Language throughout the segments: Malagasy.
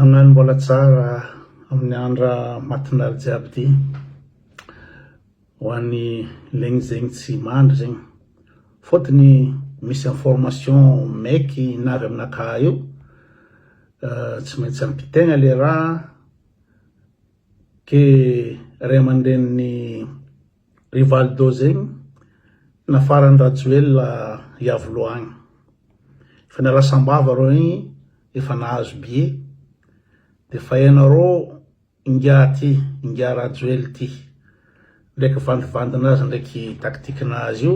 Amen mbola tsara amin'ny andra matindaly jiaby ty ho an'ny legny zegny tsy mandry zegny fôtony misy information maiky navy aminakà eo tsy maintsy ampitegna le raha ke ray aman-drenin'ny Rivaldo zegny nafaran'i Rajoelina Iavoloha agny. Efa niala sambava reo igny efa nahazo bie de fa ianareo ingahy ty ingahy Rajoely ty ndraiky vandivandinazy ndraiky tactiquenazy io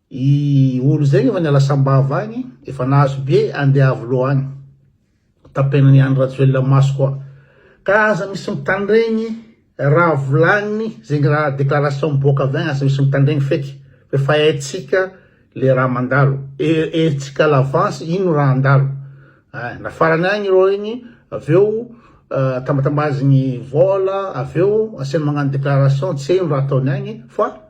I olo zegny efa niala sambava agny efa nahazo be ande iavolo agny tapenany i Andry Rajoelina maso koa ka aza misy mitandregny raha volagniny zegny raha déclaration miboaka avy agny aza misy mitandregny feky fa efa haintsika le raha mandalo haintsika à l'avance ino raha handalo ah na farany agny ireo igny aveo tambatambazigny vola aveo asiany magnano déclaration tsy hay ino raha ataony agny fa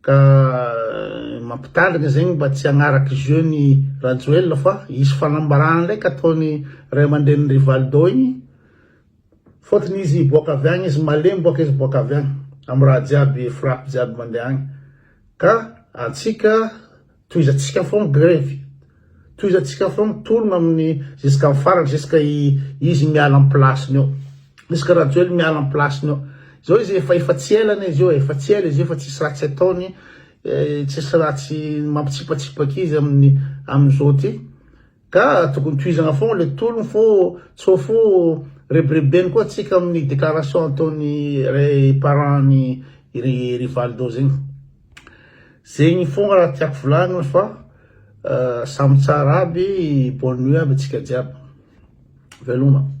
Ka mampitandrina zegny mba tsy hagnaraka jeu ny Rajoelina fa hisy fanambarana ndraiky ataony ray aman-drenin'i Rivaldo igny fôtony izy hiboaka avy agny izy malemy bôka izy boaka avy agny amin'ny raha jiaby frappe jiaby mandeha agny ka antsika Tohizantsika foana ny grevy. Tohizantsika foana ny tolona amin'ny jusqu'à ny farany jusqu'à izy miala amin'ny place-ny eo. Jusqu'à Rajoelina miala amin'ny place-ny eo. Izao izy efa efa tsy ela anie izy io e, efa tsy ela izy io fa tsisy ratsy ataony, tsisy ratsy mampitsipatsipaka izy amin'ny amin'izao ty. Ka tokony tohizana foana le tolony fô tsô fô rebirebeny koa tsika aminy declaration ataony re parent ny ry Rivaldo zegny. Zegny fogna raha tiako volagniny fa samy tsara aby bonne nuit aby atsika jiaby. Veloma.